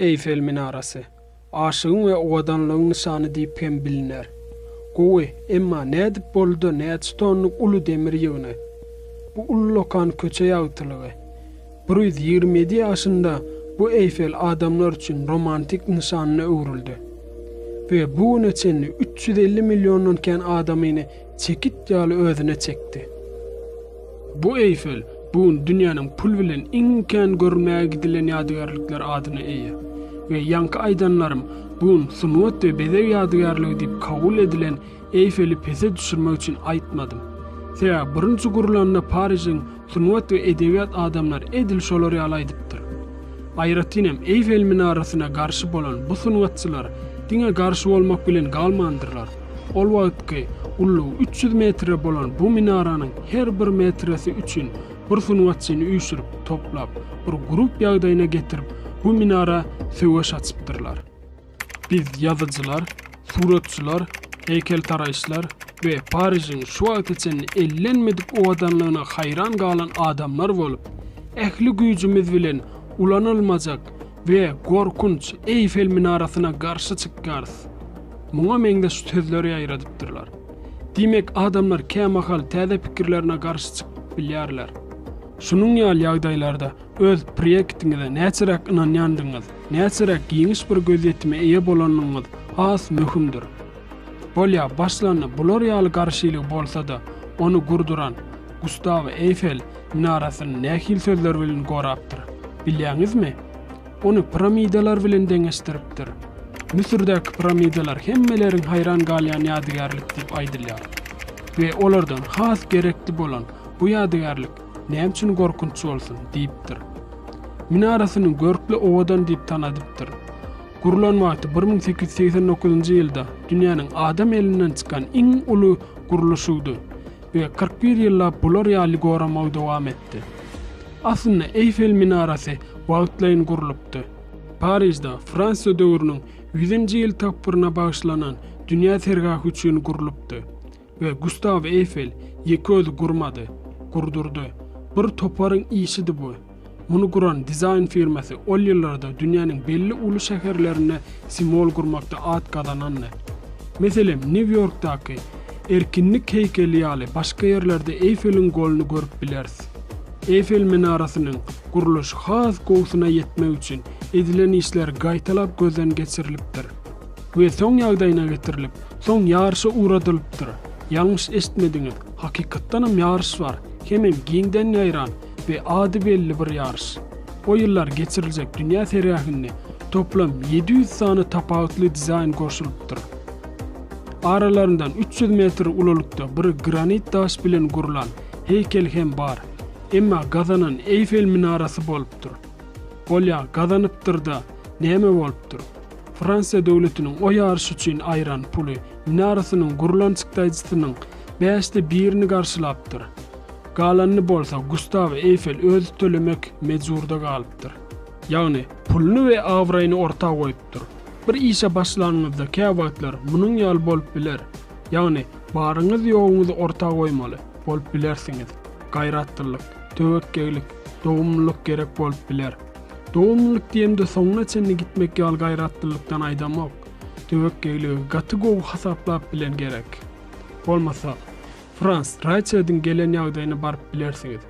Eýfel minarasy, aşygyň we owadanlygyň nyşany diýip hem biliner. Gowy, emma nädip boldy-da näçe tonnyk uly demir ýygyny? Bu ullakan köçe ýagtylygy. Bir ýüz ýigrimi ýedi ýaşynda bu Eýfel adamlar üçin romantik nyşanyna öwrüldi we bu güne çenli üç ýüz elli milliondan kän adamyny Çekit ýaly özüne çekdi. Bu Eýfel bu gün dünýäniň pul bilen iň kän görülmäge gidilen ýadygärlikler adyna eýe we ýaňky aýdanlarym bu gün sungat we bezeg ýadygärligi diýip kabul edilen Eýfeli pese düşürmek üçin aýtmadym. Sebäbi birinji gurlanda Parižiň Sungat we edebiýat adamlary edil şolar ýaly aýdypdyr. Aýratyn hem Eýfel minarasyna garşy bolan bu sungatçylar diňe garşy bolmak bilen galmandyrlar. Ol wagtky ullugy üç ýüz metre bolan bu minaranyň her bir metresi üçin bir sungatçyny üýşürip, toplap, bir grup ýagdaýyna getirip, bu minara söweş açypdyrlar. Biz ýazyjylar, suratçylar, heýkeltaraşlar we Parižiň şu wagta çenli ellenmedik owadanlygyna haýran galan adamlar bolup, ähli güýjümiz bilen ulanylmajak we gorkunç Eýfel minarasyna garşy çykýarys. Muňa meňzeş sözler ýaýradypdyrlar. Diýmek, adamlar kämahal täze pikirlerine garşy çykyp bilýärler. Şunuň ýaly ýagdaýlarda Öz proýektiňize näçeräk ynanýandygyňyz, näçeräk giňiş bir gözýetime eýe bolandygyňyz has möhümdir. Bolýa, başlanda bular ýaly garşylygy bolsa-da, ony gurduran Gustaw Eýfel minarasyny nähili sözler bilen gorapdyr, bilýäňizmi? Ony piramidalar bilen deňeşdiripdir. Müsürdäki piramidalar hemmeleriň haýran galýan ýadygärlik diýip aýdylýar. We olardan has gerekli bolan bu ýadygärlik Näme üçin gorkunç bolsun? diýipdir. Minarasyny görkli owadan diýip tanadypdyr. Gurlan wagty bir müň sekiz ýüz segsen dokuzynjy ýylda dünýäniň adam elinden çykan iň uly gurluşygydy we kyrk bir ýyllap bular ýaly goramagy dowam etdi. Aslynda Eýfel minarasy wagtlaýyn gurlupdy. Parižde Fransiýa döwrüniň ýüzünji ýyl tapgyryna bagyşlanan dünýä sergahy üçin gurlupdy. We Gustaw Eýfel ýeke özi gurmady, gurdurdy. Bir toparyň işidi bu. Muny guran dizaýn firmasy ol ýyllarda dünýäniň belli uly şäherlerinde simwol gurmakda at gazanandy. Meselem, Nýu-Ýorkdaky Erkinlik heýkeli ýaly başga ýerlerde Eýfeliň goluny görüp bileris. Eýfel minarasynyň gurluşy has gowusyna ýetmek üçin edilen işler gaýtalap gözden geçirilipdir. we soň ýagdaýyna getirilip, soň ýaryşa ugradylypdyr. Ýalňyş eşitmediňiz, hakykatdanam ýaryş bar, hemem giňden ýaýran we ady belli bir ýaryş. O ýyllar geçiriljek dünýä sergähinde toplam ýedi ýüz sany tapawutly dizaýn goşulypdyr. Aralaryndan üç ýüz metr ululykda bir granit daş bilen gurlan heýkel hem bar, emma gazanan Eýfel minarasy bolupdyr. Bolýa gazanypdyr-da, näme bolupdyr? Fransiýa döwletiniň o ýaryş üçin aýran puly minarasynyň gurlan çykdaýjysynyň bäşde birini garşylapdyr. Galanyny bolsa Gustaw Eýfel özi tölemek mejburda galypdyr. Ýagny, puluny we abraýyny orta goýupdyr. Bir işe başlanyňyzda kä wagtlar munuň ýaly bolup biler. Ýagny, baryňyz-ýoguňyzy orta goýmaly bolup bilersiňiz. Gaýratlylyk, töwekgegilik, dogumlylyk gerek bolup biler. Dogumlylyk diýemde soňuna çenli gitmek ýaly gaýratlylykdan aýdamok. Töwekgeýligi gaty gowy hasaplap bilen gerek. Bolmasa, Frans Raýçediň gelen ýagdaýyna baryp bilersiňiz.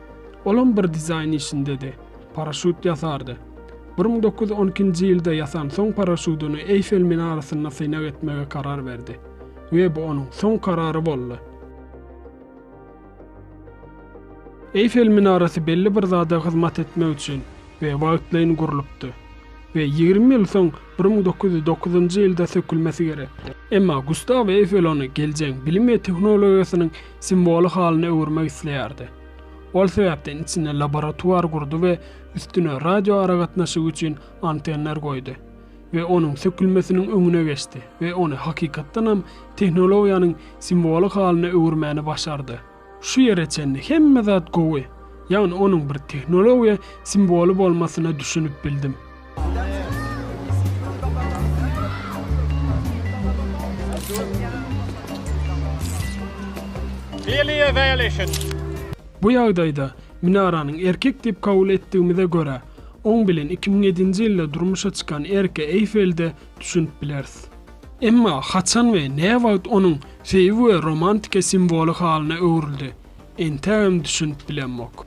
Olam bir dizaýn işindedi. Paraşut ýasardy. Bir müň dokuz ýüz on ikinji ýylda ýasan soň paraşudyny Eýfel minarasynda synag etmege karar berdi. We bu onuň soň karary boldy. Eýfel minarasy belli bir zada hyzmat etmek üçin we wagtlaýyn gurlupdy we ýigrimi ýyl soň, bir müň dokuz ýüz dokuzynjy ýylda sökülmesi gerekdi. Emma Gustaw Eýfel ony geljegin bilim we tehnologiýasynyň simwoly halyna öwürmek isleýärdi. Ol sebäpden içinde laboratuar gurdy we üstüne radioaragatnaşygy üçin antenner goýdy. we onuň sökülmesiniň öňüne geçdi we ony hakykatdan hem tehnologiýanyň simwoly halyna öwürmäni başardy. Şu ýere çenli hemme zat gowy, ýagny onuň bir tehnologiýa simwoly bolmasyna düşünip bildim. Bu ýagdaýda minaranyň erkek diýip kabul etdigimize görä, Oň bilen iki müň ýedinji ýylda durmuşa çykan Erke Eýfelde düşünip bileris. Emma haçan we näwagt onuň söýgi we romantika simwoly halyna öwrüldi, entägem düşünip bilemok.